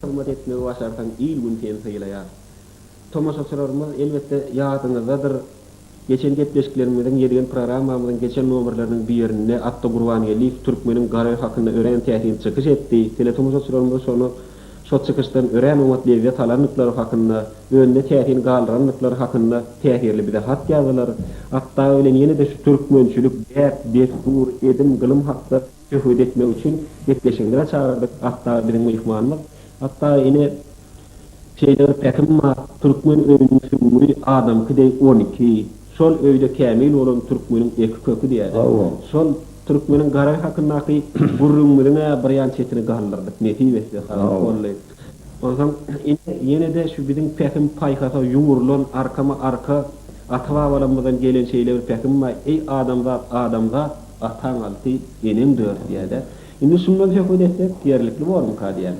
Hyzmat etmegi başarsaň il-gün seni sylaýar. Tomaşaçylarymyz, elbetde, ýadyňyzdadyr, geçen gepleşiklerimiziň, ýedigen programmamyzyň geçen nomerleriniň birinde Atda Gurbangeldiýew türkmeniň garry hakynda örän täsin çykyş etdi. Teletomaşaçylarymyz şony, şo çykyşdan örän oňat lezzet alandyklary hakynda, öňde täsin galdyrandyklary hakynda täsirli bize hat ýazdylar. Atda bilen ýene-de şu türkmençilik, däp, dessur, edim, gylym hakda Söhbet etmek üçin gepleşigimize çagyrdyk. Atdagy biziň myhmanymyz. Atdagy ine, şeýle bir pähim bar, türkmen öýüniň süňňi adamky deý on iki. Şol öýde kämil bolan türkmeniň eki köki diýerler. Hawa. Şol türkmeniň garagy hakyndaky gürrüňimiziň-ä birýan çetini galdyrdyk, nesip etse, Halyk Golly. Onsoň, ine, ýene-de şu biziň pähim-paýhasa ýugrulan, arkama-arka ata-babalarymyzdan gelen şeýle bir pähim bar, Eý, adamzat, adamzat! Ataň alty, eneň dört diýädä. Indi şundan söhbet etsek, ýerlikli bormyka diýýän.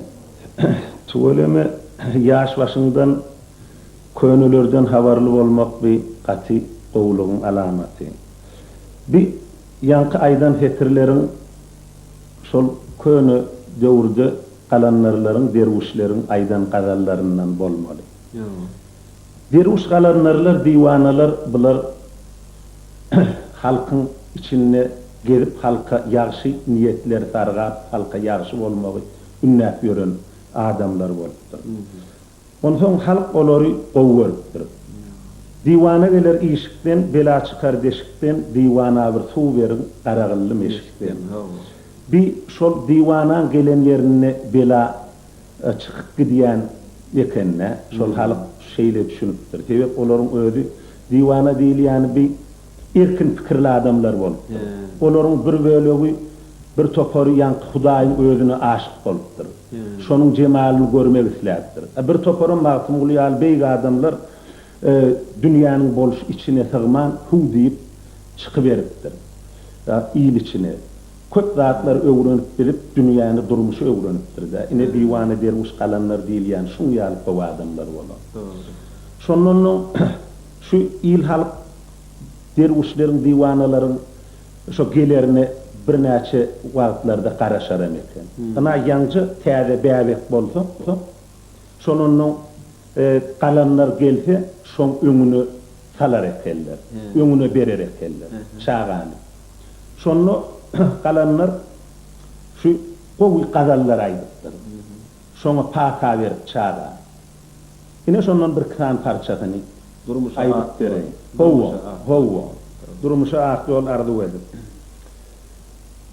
Tüweleme, ýaş başyňdan könelerden habarly bolmak bi gaty gowulygyň alamaty. Bi ýaňky aýdan setirleriň şol köne döwürde galandarlaryň, derwüşleriň aýdan gazallaryndan bolmaly. Ýa. Derwüş galandarlar diwanalar bular halkyň içinde gezip halka ýagşy niýetleri sargap halka ýagşy bolmagy ündäp ýören adamlar bolupdyr. Onsoň halk olary gowy görüpdir. Diwana geler işikden bela çykar deşikden diwana bir suw beriň garagylly meşikden. Bi şol diwanaň gelen ýerinde bela çykyp gidýän ekende şol halyk şeýle düşünipdir. Sebäp olaryň özi diwana diýilýäni bi erkin pikirli adamlar bolupdyr. Olaryň bir bölegi bir topary ýaňky hudaýyň özüne aşyk bolupdyr. Şonuň jemalyny görmek isläpdir. Bir toparam Magtymguly ýaly beýik adamlar dünýäniň bolşy içine sygman huw diýip çykyberipdir il içine. Köp zatlary öwrenip bilip dünýäni durmuşy öwrenipdirdä ine diwana derwüş galanlar diýilýän şuň ýaly köp adamlar bolar. Dogry. Şondan soň şu il halk derwüşleriň diwanalaryň şo gelerine birnäçe wagtlarda garaşaram eken. Ynha ýaňja täze bäbek bolsa şondan soň Galanlar gelse, şoň öňüne salar ekenler, öňüne berer ekenler çagany. Şonda galanlar şu gowy gazallar aýdypdyr. Şoňa pata berip çaga. Ine şondan birki sany parçasyny aýdyp bereýin. Hawa, hawa. Durmuşa ak ýol arzuw edip.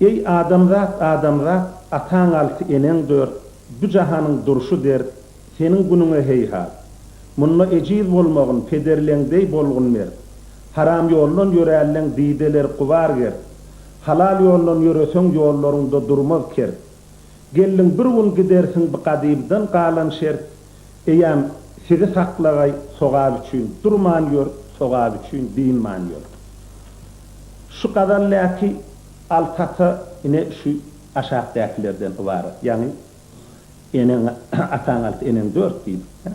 Eý, adamzat, adamzat, ataň alty, eneň dört, Bu jahanyň durşy dert, Seniň günüňe heýhat. Munda ejiz bolmagyn pederleň deý bolgun mert. Haram ýoldan ýörälleň dideleri gubar gert. Halal ýoldan ýöreseň ýollaryňda durmaz kert. Geldiň bir gün gidersiň bi gadybdan galan şert. Eýäm sizi saklagaý sogap üçin durman ýör sogap üçin dynman ýör. Şu gazal däki alty ata ine şu aşakdakilerden ybarat ýagny. Eneň ataň alty, eneň dört diýdik-dä.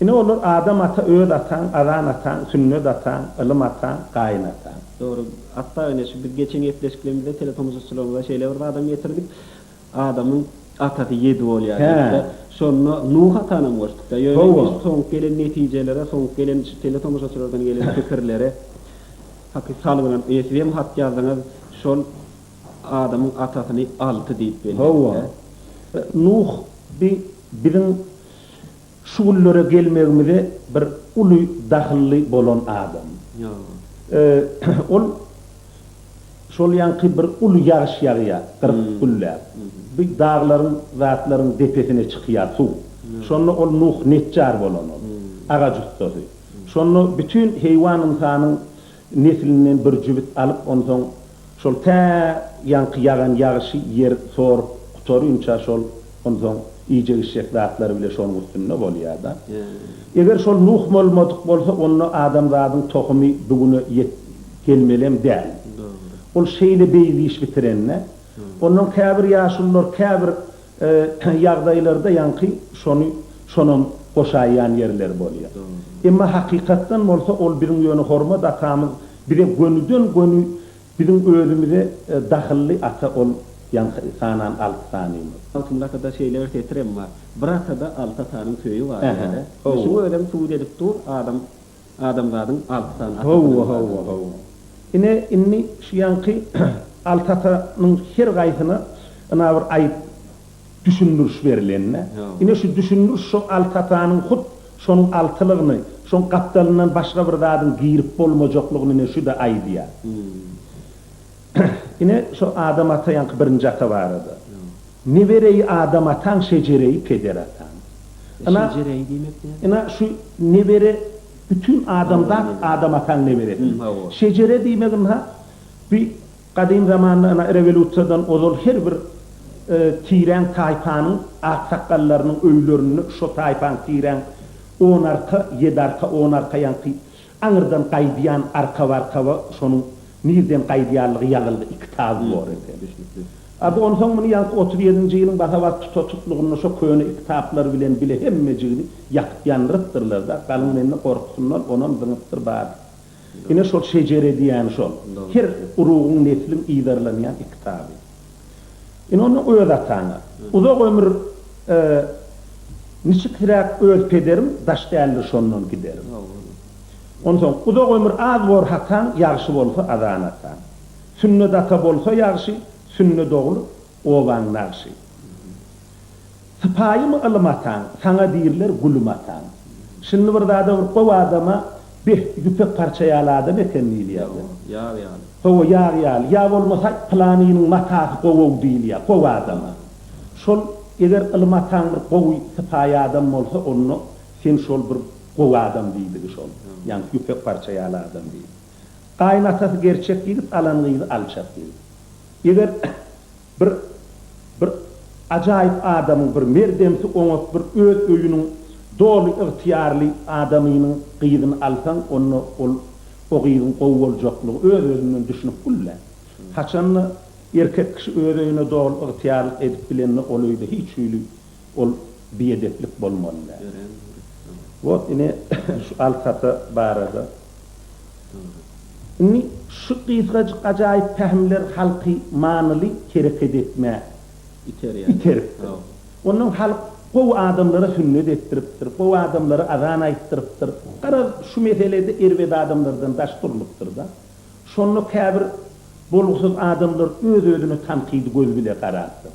Ine, olar Adam ata, öz ataň, azan ataň, sünnet ataň, ylym ataň, gaýyn ataň. Dogry. Hatda ine şu biz geçen gepleşiklerimizde teletomuşaçylarymyza şeýle bir zadam getirdik. Adamyň atasy ýedi bolýar diýdik-de. Şonda Nuh atanam goşduk-da. Ýöne biz soňky gelen netijelere, soňky gelen şu teletomuşaçylardan gelen pikirlere haky salgylanyp, ine siz hem hat ýazdyňyz, şol. Adamyň atasyny alty diýip belleýär. Hawa. Nuh bi biziň şu günlere gelmegimize bir uly dahylly bolan adam. Ýa. Ol şol ýaňky bir uly ýagyş ýagýar, gyryk gülläp. Bi daglaryň, zatlaryň depesine çykýar suw. Şonda ol Nuh nejjar bolan ol. Agaç ussasy. Şonda bütin heýwan-ynsanyň Neslinden bir jübüt alyp, onsoň şol tä ýaňky ýagan ýagyşy ýer sorup gutarynça şol onsoň iýjek-içjek zatlary bile şonuň üstünde bolýar-da. Eger şol Nuh bolmadyk bolsa, onda adamzadyň tohumy bu güne ýet gelmelem däl. Ol şeýle beýik iş bitiren-dä. Ondan käbir ýaşulular, käbir ýagdaýlarda ýaňky şony şonam goşaýýan ýerleri bolýa. Emma hakykatdan bolsa ol biziň ýöne hormat atamyz bize gönüden göni biziň özümize dahylly ata ol ýaňky sanan alty sanymyz. Altynly atada şeýle bir setirem bar, Bir atada alty atanyň söýi bar diýýärä. Şuň özem subut edip dur, adam. Adamzadyň alty sany atasy bilen Howwa, howwa, baglanyşykly. howwa. Ine, indi şu ýaňky alty atanyň her gaýsyna ynha bir aýyp düşündiriş berilende, Howwa. ine şu düşündiriş şo alty atanyň hut şonuň altylygyny, şoň gapdalyndan başga bir zadyň girip bolmajaklygyny ine şu-da aýdýar. Hum. Ine, şo Adam ata ýaňky birinji ata barada. Nebereýi Adam ataň, şejereýi peder ataň. Ina, Şejereýi diýmek näme? Ina, şu nebere bütin adamzat Adam ataň neberesi. Şejere diýmek ynha, bi gadym zamanda ina rewolýusiýadan ozal her bir tireň taýpanyň aksakgallarynyň öýlerinde şo taýpaň tireň on arka, ýedi arka, on arka ýaňky Aňyrdan gaýdýan arka-barkaba şonuň nirden gaýdýanlygy ýazylgy iki taby bor eken. Düşnükli. A bu onsoň muny ýaňky otuz ýedinji ýylyň basa-bas tutatyklygynda şo köne iki taplar bilen bile hemmejigini ýakyp ýandyrypdyrlar-da, galyň mende gorkusyndan onam zyňypdyr bardy. Ine şol şejere diýýäni şol. Her urugyň, nesliň yzarlanýan iki taby. Ine onda öz ataňa. Uzak ömür e, Niçikräk öz pederim Daş däldir şondan giderim. Onsoň uzak ömür az bor hataň Ýagşy bolsa azan ataň. Sünnet ata bolsa ýagşy, Sünnet ogul obaň nagşy. Sypaýymy ylym ataň, saňa diýrler gulum ataň. Şindi bir zada bir gowy adama beh, ýüpek parça ýaly adam eken diýilýär. Ýa-o, ýag ýaly. Hawa, ýag ýaly. Ýa bolmasa, pylanynyň matasy gowy-ow diýilýär, gowy adama. Şol, eger ylym ataň bir gowy, sypaýy adam bolsa, onda sen şol bir gowy adam diýdigi şol. Ýaňky ýüpek parça ýaly adam diýdi. Gaýynatasy gerçek ýigit, alan gyzy alçak ýigit. Eger. Bir bir ajaýyp adamyň, bir merdemsi, oňat, bir öz öýüniň doly ygtyýarly adamynyň gyzyny alsaň, onda ol o gyzyň gowy boljaklygy öz-özünden düşünip gül-le. Haçan-da, erkek kişi öz öýüne doly ygtyýarlyk edip bilende, ol öýde hiç hili ol biedeplik bolmaly däl. Wot ine şu alkata barada. Indi şu gysgajyk ajaýyp pähimler halky manyly hereket etmä iteripdir. Ondan halk gowy adamlara sünnet etdiripdir, gowy adamlara azan aýtdyrypdyr. Garaz şu meselede erbet adamlardan daş durlupdyr-da. Şonda käbir bolgusyz adamlar öz-özüne tankydy göz bile garapdyr.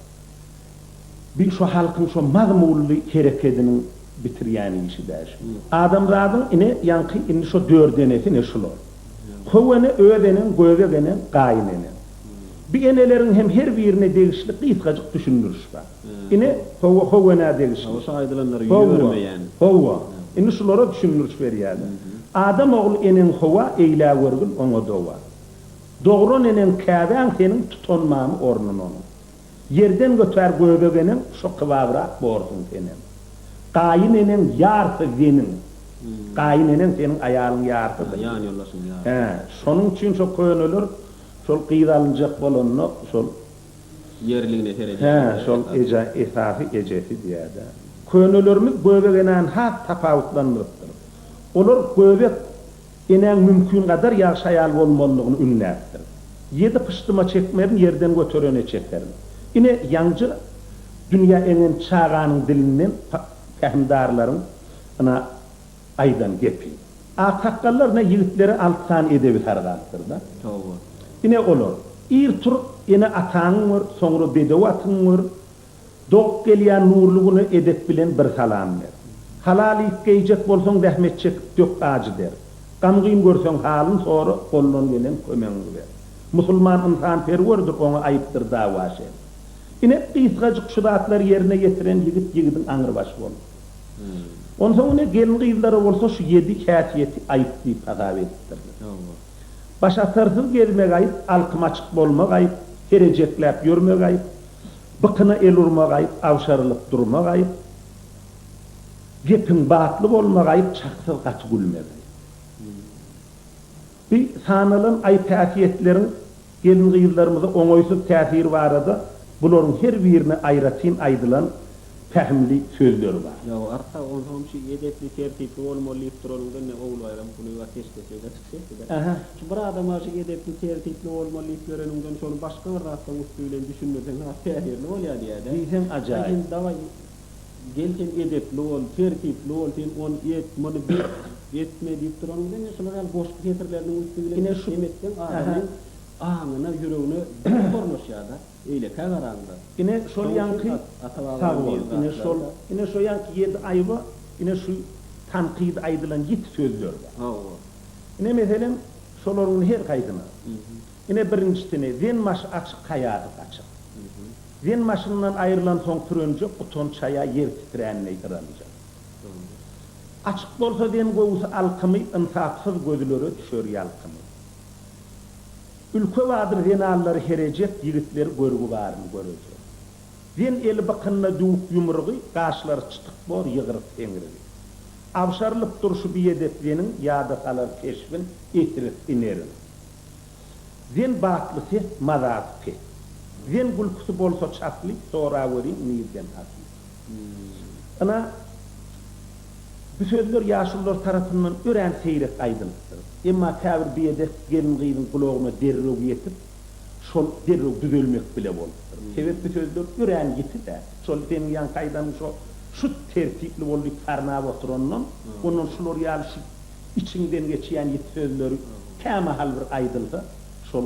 Bil şo halkyň şo mazmully herekediniň bitirýän işi dä şu. Adamzadyň ine ýaňky indi şo dört enesi ine şular. How ene öz eneň göbek eneň gaýyn eneň. Bi eneleriň hem her birine degişli gysgajyk düşündiriş bar. Ine hawa how enä degişli. Hawa şo aýdylanlary ýörmeýän. Hawa indi şulara düşündiriş berýäler. Adam ogly eneň hawa eýlägörgül oňa dowa. Dogran eneň käbäň seniň tutanmamy ornun onuň. Ýerden götär göbek eneň şo kybabrak borsuň senem. Gaýyn eneň ýarsy zeniň. Gaýyn eneň seniň aýalyň ýarsydyr. Ýan ýoldaşyň ýarsy. Hä, şonuň üçin şo köneler şol gyz alynjak bolanda şol. Ýerligine seredýärler esasy. Hä, şol eje esasy ejesi diýädä. Könelerimiz göbek enäni has tapawutlandyrypdyr. Olar göbek. Enäň mümkingadar ýagşy aýal bolmalydygyny ünläpdir. Ýedi pyşdyma çekmerin, ýerden göterene çekerin. Ine, ýaňja dünýä eňen çaganyň dilinden pähimdarlaryň ynha, aýdan gepi. Aksakgallar ynha ýigitlere alty sany edebi sargapdyr-da. Toba. Ine, olar, Ir turup, ene-ataňy gör, soňra bedew atyňy gör, Dok gelýän nurly güne edep bilen bir salam ber. Halal iýip geýjek bolsaň zähmet çekip dök ajy der. Gam-gyn görseň halyn sora gollan gelen kömegiňi ber. Musulman ynsanperwerdir oňa aýypdyr dawa şer. Ine gysgajyk şu zatlary ýerine ýetiren ýigit ýigidiň aňrybaşy bolupdyr. Onsoň ine gelin-gyzlara bolsa şu ýedi häsiýeti aýyp diýip hasap edipdirler. Başatarsyz gezmek aýyp, alkym açyk bolmak aýyp, herejekläp ýörmek aýyp, Bykyna el urmak aýyp, agşarylyp durmak aýyp, Gepiň batly bolmak aýyp, çaksyz gaty gülmek aýyp. Bi sanalan aýyp-häsiýetleriň gelin-gyzlarymyza oňaýsyz täsiri barada bularyň her birine aýratyn aýdylan pähimli sözler bar. Ýa, arka, onsoňam şu edepli, tertipli bolmaly diýip duranyňda indi Ogulbaýram Kulyýew ateşkes eder. Ähä, şu bir adama şu edepli, tertipli bolmaly diýip ýöreniňden şony başga bir zatlaryň üsti bilen düşündirseň has täsirli bolýar diýýär-dä. Diýseň ajaýyp. Sen dawaý, gel sen edepli bol, tertipli bol, sen ony et, muny bet, etme diýip duranyň bilen ine şular ýaly goşgy setirleriniň üsti bilen ine şu, ähä, adamyň aňyna, ýüregine berk ornaşýar-da. Eýlekä garaňda. Ine şol ýaňky Sag bol. Ine şol ine şo ýaňky ýedi aýba ine şu tankydy aýdylan ýiti sözler bar. Hawa. Ine meselem şolaryň her haýsyna. Ine birinjisini Zen maşy açyk haýaty gaçyk. Zen maşyndan aýrylan soň pürenjek utanç haýa ýer titrändeý hyranjak. Açyk bolsa Zen gowusy alkymy ynsapsyz gözlere düşer ýalkymy. Ülke badyr zenanlary herejek ýigitleri görgi baryny göreder. Zen eli bykynda düwük ýumrugy, gaşlary çytyk bor ýygryk seňrigi. Abşarylyp durşy biedep zeniň ýada salar keşbin ehris inerin. Zen batly ses, mazasy pes. Zen gülküsi bolsa çasly, soragöriň nirden asly. Ynha, bu sözler ýaşulular tarapyndan örän seýrek aýdylypdyr. Emma käbir biedep gelin-gyzyň gulagyna derrew ýetip, şol derrew düzelmek bile bolupdyr. Sebäp bu sözler örän ýiti-dä. Şol seniň ýaňky aýdanyň şo şut tertipli bol diýip sarnap oturandan, ondan şular ýaly şu içiňden geçýän ýiti sözleri kämahal bir aýdylsa, şol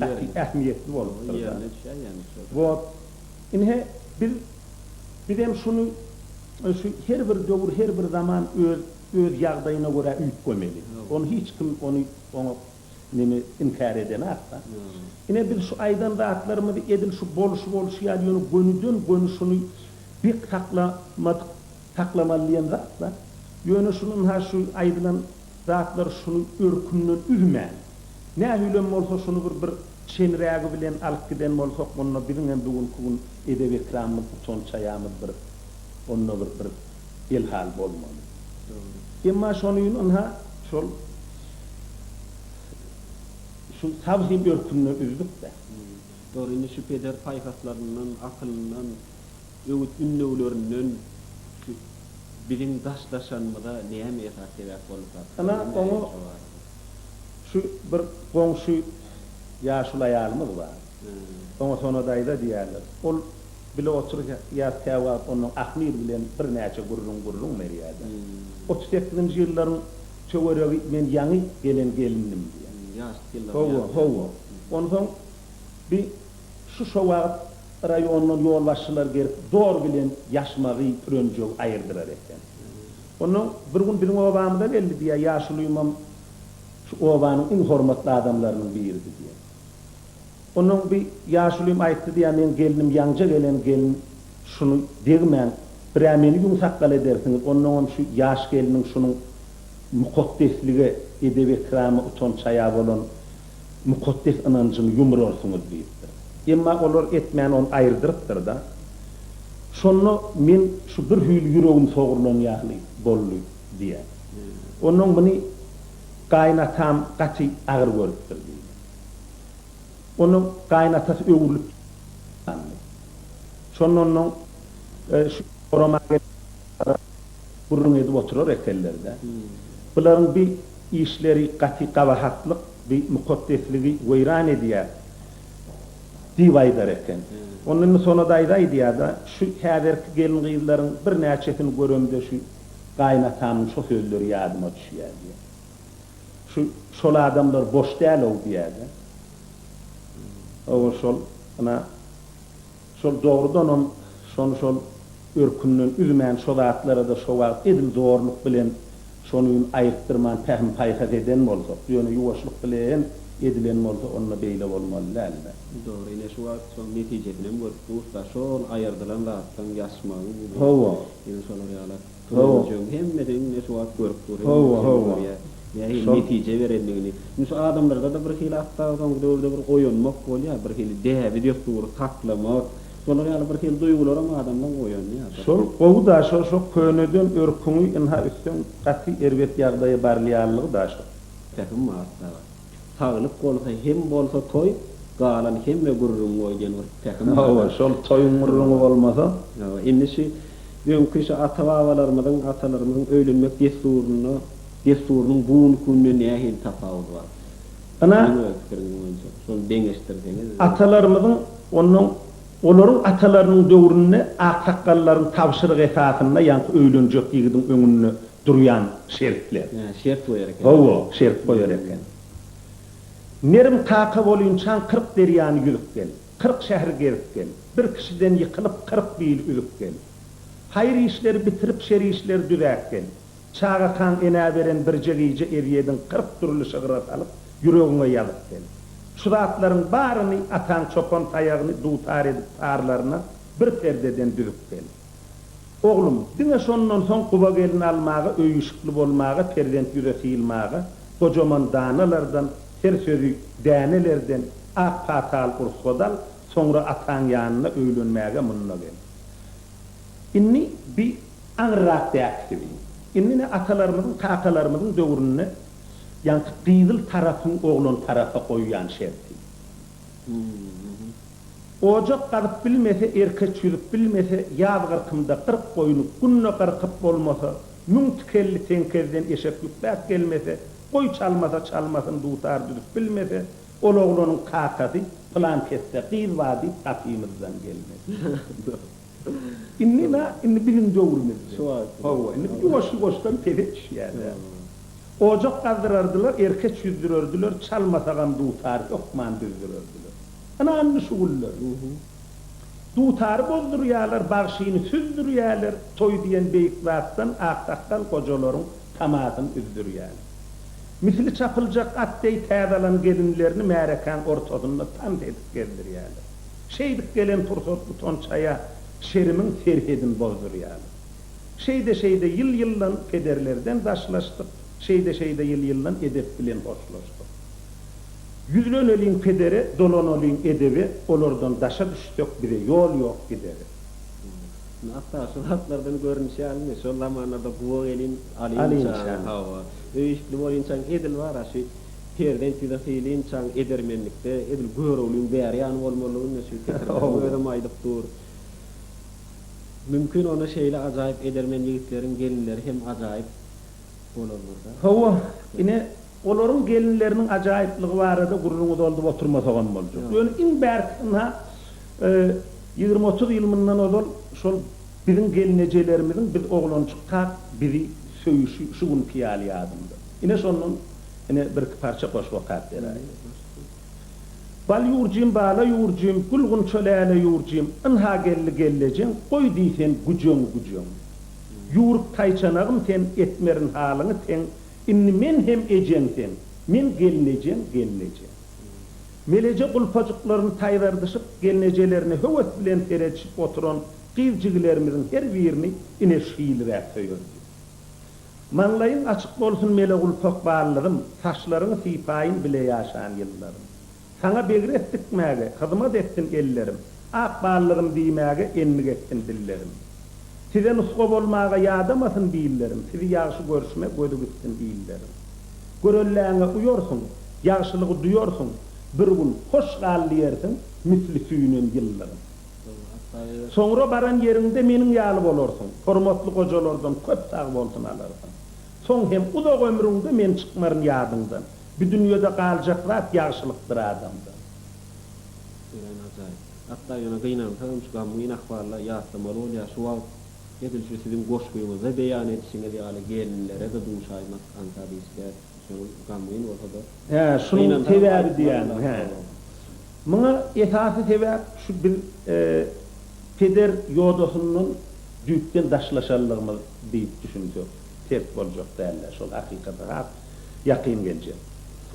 gaty ähmiýetli bolupdyr-da. Wot, Ine, biz, bizem şuny, şu her bir döwür, her bir zaman öz, öz ýagdaýyna görä üýtgemeli. Ony hiç kim ony, oňa neme, inkär edenakda. Ine, biz şu aýdan zatlarymyzy edil şu bolşy bolşy ýaly, ýöne gönüden, göni şuny bek saklamadyk, saklamaly diýen zat-la. Ýöne şuny ynha şu aýdylan. Zatlar şunuň örkünden üzmän. Nähilem bolsa şuny bir bir çenrägi bilen alyp giden bolsak onda biziň hem bu günki gün edep ekramymyz utanç haýamyz bir onda bir bir el hal bolmaly. Emma şonyn ynha şol şu saz hem örkünden üzdük dä. Dogry indi şu peder paýhaslaryndan akylyndan. Öwüt ündewlerinden şu biziň daşlaşanymyza näme esas sebäp boldy Sartar? Ynha, oňa şu bir goňşy ýaşuly aýalymyz bar. Oňa Sona daýza diýerler. Ol bile oturýas käwagt ondan Ahmyr bilen birnäçe gürrüň-gürrüň berýärdi. Otuz sekizinji ýyllaryň töweregi men ýaňy gelen gelindim diýýär. Ýaşlyk ýyllarym ýadyda. Hawa, hawa. Onsoň bi Şu şo wagt raýondan ýolbaşçylar gelip dor bilen ýaşmagy pürenjegi aýyrdylar eken. Onda bir gün biziň obamyza geldi diýýär, ýaşulymam şu obanyň iň hormatly adamlarynyň biridi diýýär. Ondan bir ýaşulym aýtdy diýýär, meň gelnim ýaňja gelen gelin şuny degmäň, bir-ä meni ýüň sakgal edersiňiz, ondaňam şu ýaş gelniň şunuň mukaddeslige, edep-ekrama, utanç-haýa bolan mukaddes ynanjyny ýumrarsyňyz diýipdir. Emma olar etmän ony aýyrdyrypdyr-da. Şonda men şu bir hüýli ýüregim sogrulan ýaly boldy diýýär. Onnoň muny gaýynatam gaty agyr görüpdir diýdi. Onnoň gaýynatasy öwrülip ýatandy. Şonda onnoň şu gorama gelen adamlara gürrüň edip oturar ekenler-de. Bularyň bir Işleri gaty gabahatlyk bi mukaddesligi weýran edýär, diýip aýdar eken. Onda indi Sona daýza aýdýar-da, Şu häzirki gelin-gyzlaryň birnäçesini göremde şu gaýynatamyň şo sözleri ýadyma düşýär, diýýär. Şu, şol adamlar boş däl-ow, diýýär-de. Hawa, şol, ana, Şol dogrudanam şony şol örkünden üzmän şo zatlarada şo wagt edil zorluk bilen şony gün aýyrtdyrman pähim paýhas eden bolsak ýöne ýuwaşlyk bilen edilen bolsa onda beýle bolmaly däldi. Dogry ine şu wagt şoň netijesinem görüp durus da şol aýyrdylan zatdan ýaşmagyň indi Hawa. ine şolar ýaly. Turuljak hemmeden iňňe şu wagt görüp dur. Hemmeň içem görýär. Nähili netije berendigini. Indi şu adamlarda-da bir hili hatda soňky döwürde bir oýanmak bolýar. Bir hili däbi-dessury saklamak. Şolar ýaly bir hili duýgularam adamdan oýanýar bir. Şol gowy-da şo, şo köneden örküňi ynha üsseň gaty erbet ýagdaýa barylýanlygy-da şo. Pähim bar, sagat. Saglyk bolsa hem bolsa toý, galan hemme gürrüň goý diýen bir pähim bar. Hawa, şol toýuň gürrüňi bolmasa. Hawa, indi şu öňki şu ata-babalarymyzyň, atalarymyzyň öýlenmek dessurynda, dessurynyň bu günki günde nähili tapawudy bar? Ynha, Siziň öz pikiriňiz boýunça, şony deňeşdirseňiz. Atalarymyzyň, onnoň olaryň atalarynyň döwründe aksakgallaryň tabşyrygy esasynda ýaňky öýlenjek ýigidiň öňünde durýan şertler. Hä, şert goýar eken. Hawa, şert goýar eken. Merim kaka bolýunçaň kyrk derýany ýüzüp gel. Kyrk şäheri gezip gel. Bir kişiden ýykylyp kyrk bil üzüp gel. Haýyr işleri bitirip şer işleri düzäp gel. Çagakaň enä beren birje gije ezýedin kyrk dürli şygra salyp ýüregiňe ýazyp gel. Şu zatlaryň baryny ataň çopan taýagyny dutar edip tarlaryna bir perdeden düzüp gel. Oglum, diňe şondan soň Guba gelin almaga, öýi-işikli bolmaga, perzent ýüze syýylmaga, gojaman danalardan, her sözi dänelerden, ak pata al, rugsat al, soňra ataň ýanyna öýlenmäge munda gel. Indi bi aňyrrak däp siziň. Indi ne atalarymyzyň, kakalarymyzyň döwründe ýaňky gyzyl tarapyň oglan tarapa goýýan şerti. Ojak gazyp bilmese, erkeç ýüzüp bilmese, ýaz gyrkymda kyrk goýny günde gyrkyp bolmasa, müň tikelli teňkezden eşek ýükläp gelmese, goý çalmasa çalmasyn dutar düzüp bilmese, ol oglanyň kakasy pylankesde gyz bar diýip gapymyzdan gelmesin. Indi-la, indi biziň döwrümiz. Hawa, indi bir ýuwaş-ýuwaşdan pese düşýär-dä. Ojak gazdyrardylar, erkeç ýüzdürerdiler, çalmasagam dutary hökman düzdürerdiler. Ana, indi şu günler. Dutary bozdurýarlar, bagşyny süzdürýärler, toý diýen beýik zatdan aksakgal gojalaryň tamasyny üzdürýärler. Misli çapyljak at deý täze alan gelinlerini märekäň ortasynda tans edip gezdirýärler. Şeýdip gelen pursat utançaýa şerimiň serhedini bozdurýarlar. Şeýde-şeýde ýyl-ýyldan pederlerden daşlaşdyk, şeýde-şeýde ýyl-ýyldan edep bilen hoşlaşdyk. Ýüzleneliň pedere, dolanalyň edebe, olardan daşa düşsek bize ýol ýok gidere. Indi Atdaga şu zatlardan görnüşi ýalymy, şol zamanlarda guba gelin alynçaň, hawa, öýüşikli bolynçaň edil bar-a, şu Perzent ýüze sylinçaň edermenlikde edil göroglyň bäri ýany bolmaly indi şu Tekrdaryň özem aýdyp dur. Mümkin onda şeýle ajaýyp edermen ýigitleriň gelinleri hem ajaýyp bolandyr-da. Hawa, ine, olaryň gelinleriniň ajaýyplygy barada gürrüňi doldup oturmasagam boljak. Ýöne iň bärkisi ynha, ýigrimi-otuz ýyl mundan ozal şol biziň gelnejelerimiziň biz oglanjykka bizi söýüşi şu günki ýaly ýadymda. Ine şondan ine birki parça goşgy okap beraýyň. Bal ýurjym bala ýurjym gül gunça läle ýurjym ynha geldi gellejeň goý diýsen güjeň güjeň ýuruk taýçanagym sen etmerin halyňy teň indi men hem ejeň sen men gelnejeň gelnejeň Meleje gulpajyklaryny taýzardyşyp gelnejelerine höwes bilen seredişip oturan gyz jigilerimiziň her birini ine şylyräk söýerdi. Maňlaýyň açyk bolsun Melegulpak ballygym Saçlaryňy sypaýyn bile ýaşan ýyllarym Saňa begres dikmäge hyzmat etsin ellerim Ak ballygym diýmäge endik etsin dillerim Size nusga bolmaga ýadamasyn billerim Sizi ýagşy görşüme gözi gitsin illerim Görelläňe uýarsyň Ýagşylygy duýarsyň Bir gün Hoş gal diýersiň Misli süýnen ýyllygym. Soňra baran ýeriňde meniň ýaly bolarsyň, hormatly gojalardan köp sagbolsun alarsyň. Soň hem uzak ömrüňde men çykmaryn ýadyňdan. Bu dünýede galjak zat ýagşylykdyr adamdan. Örän ajaýyp. Hatda ýöne gynansa hem şu gamgyn ahwalda ýatlamaly bolýar. Şu wagt edil şu siziň goşgyňyzda beýan edişiňiz ýaly gelinlere-de duşaýmak aňsat işdäl. Hä, şunuň sebäbi diýýäňmi? Hä. Muňa esasy sebäp şu biz peder ýodasyndan düýpden daşlaşanlygymyz diýip düşünsek ters boljak däl-dä, şol hakykata has ýakyn geljek.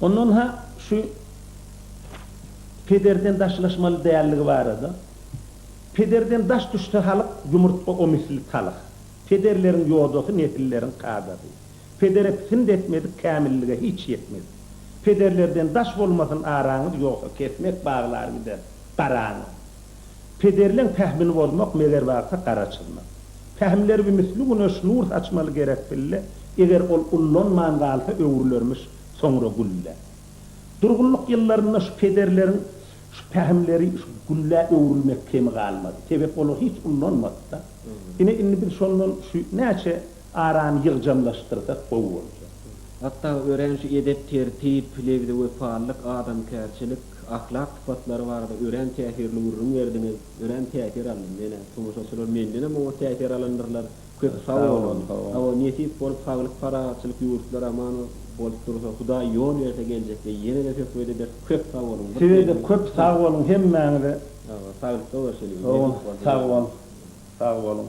Ondan-ha şu pederden daşlaşmaly däldigi barada, Pederden daş düşse halyk, ýumurtga o misli talyk. Pederleriň ýodasy, nesilleriň kadasy. Pedere pisint etmedik kämillige hiç ýetmedik. Pederlerden daş bolmasyn araňyz ýogsa kesmek baglar gider garaňyz. Pederleň pähmini bozmak meger bagta gara çyzmak. Pähimleri bi misli güneş nur saçmaly gerek pille eger ol ullanman galsa öwrülermiş soňra gülle. Durgunlyk ýyllarynda şu pederleriň şu pähimleri şu gülle öwrülmek kemi galmady. Sebäp olar hiç ullanmady-da. Ine indi biz şondan şu näçe Arany ýygjamlaşdyrsak gowy boljak. Hatda örän şu edep tertip, lebze wepalylyk, adamkärçilik, ahlak sypatlary barada örän täsirli gürrüň berdiňiz. Örän täsir aldym menä. Tomaşaçylar mendenem oňat täsir alandyrlar. Köp sag boluň. Hawa nesip bolup saglyk parahatçylyk ýurtlar aman bolup dursa hudaý ýol berse geljekde ýenede söhbet ederis. Köp sag boluň. Sizede köp sag boluň hemmäňize. Saglykda görşeliň. Nesip bolsa. Sag bol. Sag boluň.